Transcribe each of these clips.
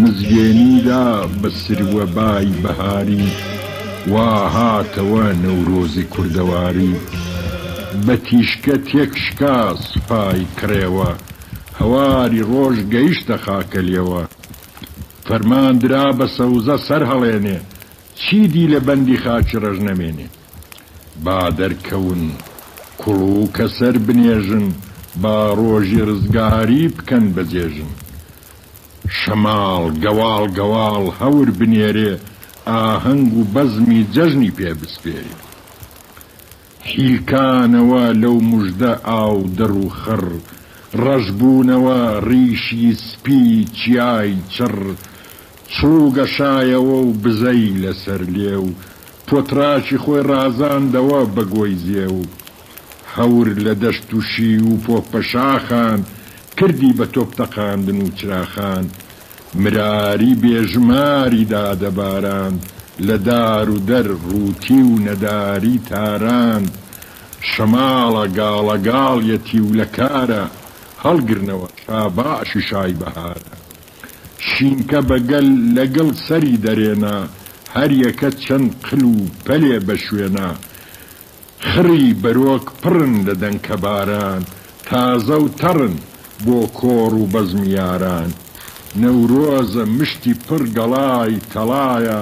مزگێنی دا بە سروەبای بەهاری وا هاتەوە نەورۆزی کوردەواری بە تیشکە تێک شکا سوپای کڕێوە هەواری ڕۆژ گەیشتە خاکەلێوە فەرمان درا بە سەوزە سەرهەڵێنێ چیدی لە بەندی خاکی ڕەش نەمێنێ. با دەرکەون کوڵوکە سەر بنێژن با ڕۆژی ڕزگاری بکەن بە جێژن شەماڵ گەواڵ گەواڵ هەور بنێرێ ئاهەنگ و بەزمی جەژنی پێ بسپێرێ حیلکانەوە لەو مژدە ئاو دڕ و خڕ ڕەش بوونەوە ڕیشی سپی چیای چڕ چوو گەشایەوە و بزەی لە سەر لێو پۆتراشی خۆی ڕازاندەوە بە گۆی زێو هەور لە دەشت و شیو و پۆپە شاخان کردی بە تۆپ تەقاندن و چراخان مراری بێ ژماری دادە باراند لە دار و دەر ڕووتی و نەداری تاراند شەماڵە گاڵە گاڵیەتی و لە کارە هەڵگرنەوە شاباشی شای بەهارە. شینکە بە گەل لە گڵ سەری دەرێنا هەر یەکە چەند قل و پەلێ بە شوێنا خڕی بەرۆک پڕن لە دەنکە باران تازە و تەڕن بۆ کۆڕ و بەزمی یاران نەورۆزە مشتی پڕ گەڵای تەڵایە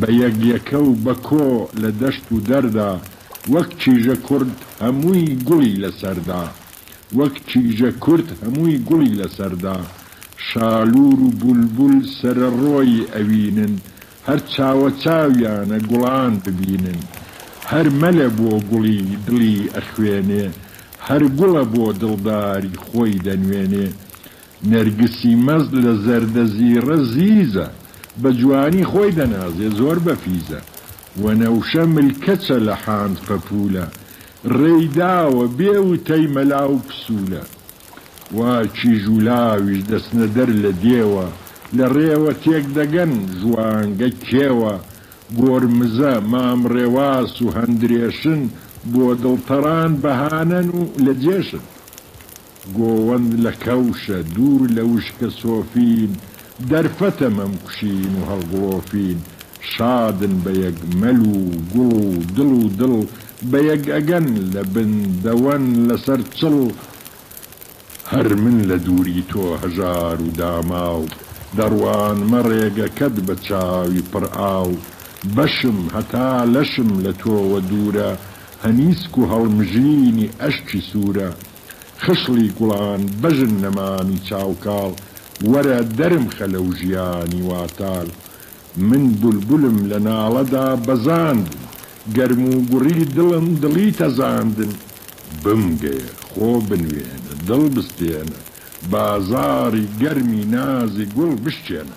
بە یەک یەکە و بە کۆ لە دەشت و دەردا، وەک چیژە کورد هەمووی گوڵی لە سەردا، وەک چیژە کورد هەمووی گوڵی لە سەردا، شالوور و بولبول سەرەڕۆیی ئەوینن، هەر چاوە چاویانە گوڵان ببینن، هەر مەلە بۆ گوڵی دڵی ئەخوێنێ، هەر گوڵە بۆ دڵداری خۆی دەنوێنێ، نەرگسی مەست لە زەردە زیڕە زیزە بە جوانی خۆی دەنازێ زۆر بەفیزە وەنەوشە ملکەچە لە حاند پەپوولە ڕێی داوە بێ وتەی مەلا و پسوولە وا کیژ و لاویش دەچنە دەر لە دێوە لە ڕێوە تێک دەگەن ژوانگە کێوە گۆرمزە مام ڕێواس و هەندرێشن بۆ دڵتەڕان بەهانەن و لە جێشن. گۆوەند لە کەوشە دوور لە وشکە سۆفین، دەرفەتە مەمکوشین و هەڵگڵۆفین، شادن بە یەک مەل و گوڵ و دڵ و دڵ بە یەک ئەگەن، لە بن دەوەن لەسەر چڵ، هەر من لە دووری تۆ هەژار و داماو، دەڕوانمە ڕێگەکەت بە چاوی پڕ ئاو، بەشم هەتا لەشم لە تۆوە دوورە، هەنیسک و هەڵمژینی ئەشکی سوورە، خشڵی گوڵان بەژن نەمامی چاو کاڵ وەرە دەرم خە لەو ژیانی واتال من بولبولم لە ناڵەدا بەزاندن گەرم و گوڕی دڵم دڵی تەزاندن بمگەیە خۆ بنوێنە دڵ بستێنە بازاڕی گەرمی نازی گوڵ بشکێنە.